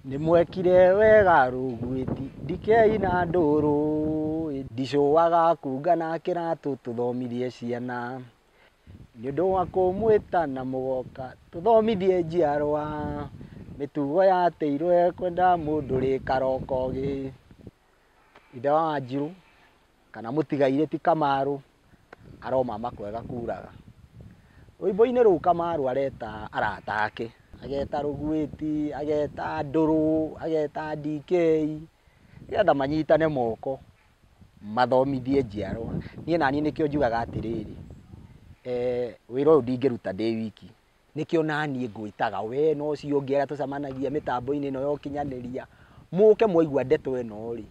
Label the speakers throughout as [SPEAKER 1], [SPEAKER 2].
[SPEAKER 1] Nĩmwekire wega rũgwĩti ndikei na ndũrũ ndicũaga kunga na kĩratũ tũthomithie ciana nĩ ũndũ wa kũmwĩta na mũgoka tũthomithie njiarwa mĩtugo ya tĩirũ ya kwenda mũndũ rĩ karokogĩ. Ithe wa Wanjirũ kana mũtigairĩ ti Kamarũ aromama kwega kuraga. Rwĩmbo-inĩ rũu Kamarũ areta arata ake, ageta Rũgwĩti, ageta Ndũrũ, ageta DK nĩgetha manyitane moko mathomithie njiarwa. Niĩ naniĩ nĩkĩo njugaga atĩrĩrĩ, wĩra ũyũ ndingĩruta ndĩ wiki. Nĩkĩo naniĩ ngwĩtaga wee na ũcio ũngĩ arĩa tũcemanagia mĩtambo-inĩ ĩno ya ũkinyanĩria, mũke mwaigua ndeto ĩno-rĩ,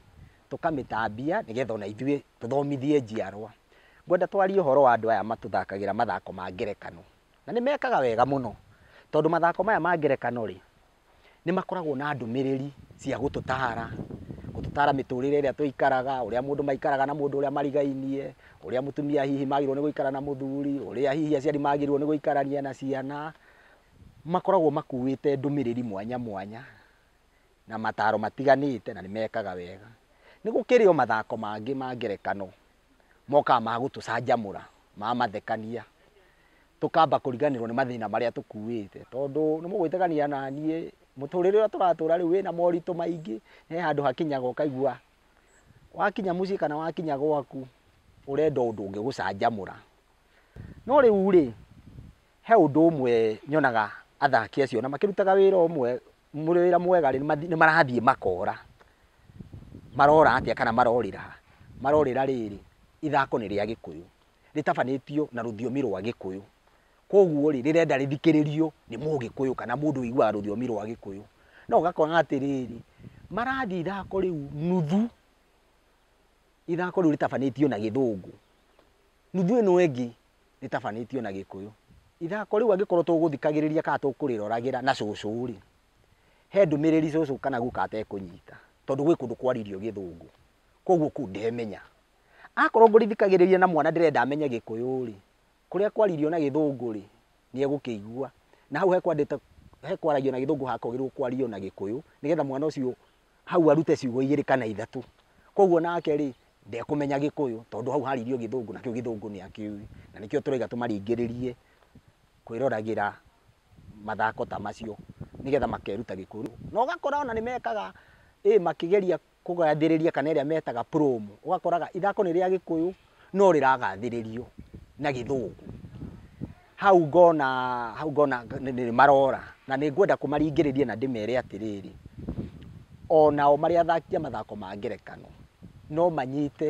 [SPEAKER 1] tũkamĩtambia nĩgetha ona ithuĩ tũthomithie njiarwa. Ngwenda twarie ũhoro wa andũ aya matũthakagĩra mathako ma ngerekano, na nĩ mekaga wega mũno, tondũ mathako maya ma ngerekano-rĩ. nĩ makoragwo na ndũmĩrĩri cia gũtũtaara, gũtũtaara mĩtũrĩre ĩrĩa tũikaraga, ũrĩa mũndũ maikaraga na mũndũ ũrĩa marigainie, ũrĩa mũtumia hihi magĩrĩirwo nĩ gũikara na mũthuri, ũrĩa hihi aciari magĩrĩirwo nĩ gũikarania na ciana. Makoragwo makuĩte ndũmĩrĩri mwanya mwanya na mataaro matiganĩte na nĩ mekaga wega. Nĩ gũkĩrĩ o mathako mangĩ ma ngerekano. mokaga ma gũtũcanjamũra, ma mathekania, tũkamba kũriganĩrwo nĩ mathĩna marĩa tũkuĩte, tondũ nĩ mũgwĩtĩkania na niĩ, mũtũrĩre ũrĩa tũratũra rĩu wĩna moritũ maingĩ, he handũ hakinyaga ũkaigua, wakinya mũciĩ kana wakinya gwaku, ũrenda ũndũ ũngĩgũcanjamũra. No rĩu rĩ, He ũndũ ũmwe nyonaga athaki acio ona makĩrutaga wĩra ũmwe, wĩra mwega rĩ, nĩ marathiĩ makora, marora atĩa kana marorĩra ha? Marorĩra rĩrĩ, ithako nĩ rĩa Gĩkũyũ, rĩtabanĩtio na rũthiomi rwa Gĩkũyũ, koguo rĩ, rĩrenda rĩthikĩrĩrio nĩ Mũgĩkũyũ kana mũndũ ũiguaga rũthiomi rwa Gĩkũyũ. No ũgakora atĩrĩrĩ, marathiĩ ithako rĩu nuthu, ithako rĩu rĩtabanĩtio na Gĩthũngũ, nuthu ĩno ĩngĩ rĩtabanĩtio na gĩkũyũ. Ithako rĩu angĩkorwo tũgũthikagĩrĩria kana tũkũrĩroragĩra na cũcũ rĩ, he ndũmĩrĩri cũcũ kana guka atekũnyita tondũ gwĩ kũndũ kwaririo gĩthũngũ, koguo kũu ndemenya. Akorwo ngũrĩthikagĩrĩria na mwana ndĩrenda amenye gĩkũyũ rĩ, kũrĩa kwaririo na gĩthũngũ rĩ, nĩ egũkĩigua na hau he kwaragio na gĩthũngũ hakagĩrĩirwo kwario na gĩkũyũ nĩgetha mwana ũcio hau arute ciugo igĩrĩ kana ithatũ. Koguo nake rĩ, ndekũmenya Gĩkũyũ tondũ hau haririo Gĩthũngũ na kĩu Gĩthũngũ nĩ akĩũĩ. Na nĩkĩo tũraiga tũmaringĩrĩrie kwĩroragĩra mathako ta macio nĩgetha makeruta Gĩkũyũ. Na ũgakora ona nĩ mekaga ĩ makĩgeria kũgathĩrĩria kana ĩrĩa metaga promo. Ũgakoraga ithako nĩ rĩa Gĩkũyũ. no rĩragathĩrĩrio na gĩthũngũ. Hau ngona, hau ngona nĩ marora na nĩ ngwenda kũmaringĩrĩria na ndĩmere atĩrĩrĩ, o nao marĩ athaki a mathako ma ngerekano, no manyite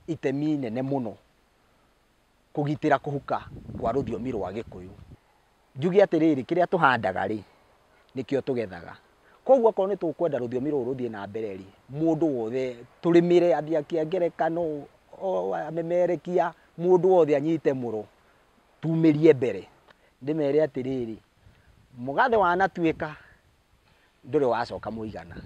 [SPEAKER 1] itemi inene mũno kũgitĩra kũhuka kwa rũthiomi rwa Gĩkũyũ. Njuge atĩrĩrĩ, kĩrĩa tũhandaga-rĩ, nĩkĩo tũgethaga. Kwoguo okorwo nĩ tũkwenda rũthiomi rũrũ rũthiĩ na mbere-rĩ, mũndũ wothe, tũrĩmĩre, athaki a ngerekano, amemerekia, mũndũ wothe anyite mũro, tumĩrie mbere. Ndĩmere atĩrĩrĩ, mũgathĩ wanatuĩka, ndũrĩ wacoka mũigana.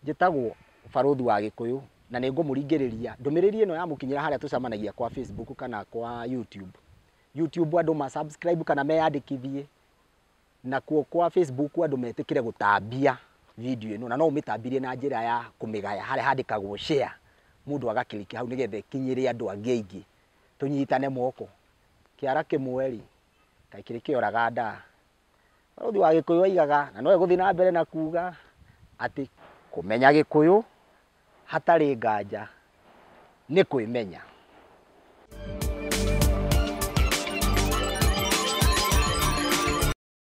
[SPEAKER 1] Njĩtagwo barũthi wa Gĩkũyũ, na nĩngũmũringĩrĩria. Ndũmĩrĩri ĩno yamũkinyĩra harĩa tũcemanagia kwa Facebook kana kwa YouTube, YouTube andũ ma subscribe kana meyandĩkithie, nakuo kwa Facebook andũ metĩkĩre gũtambia video ĩno, na no ũmĩtambirie na njĩra ya kũmĩgaya harĩa handĩkagwo share, mũndũ aga click hau nĩgetha ĩkinyĩre andũ angĩ aingĩ, tũnyitane moko, kĩara kĩmwe rĩ, kaĩ kĩrĩkĩoraga ndaa. Mũrũthi wa Gĩkũyũ oigaga, na no egũthiĩ na mbere na kuuga, atĩ kũmenya Gĩkũyũ hatarĩ nganja nĩ kwĩmenya.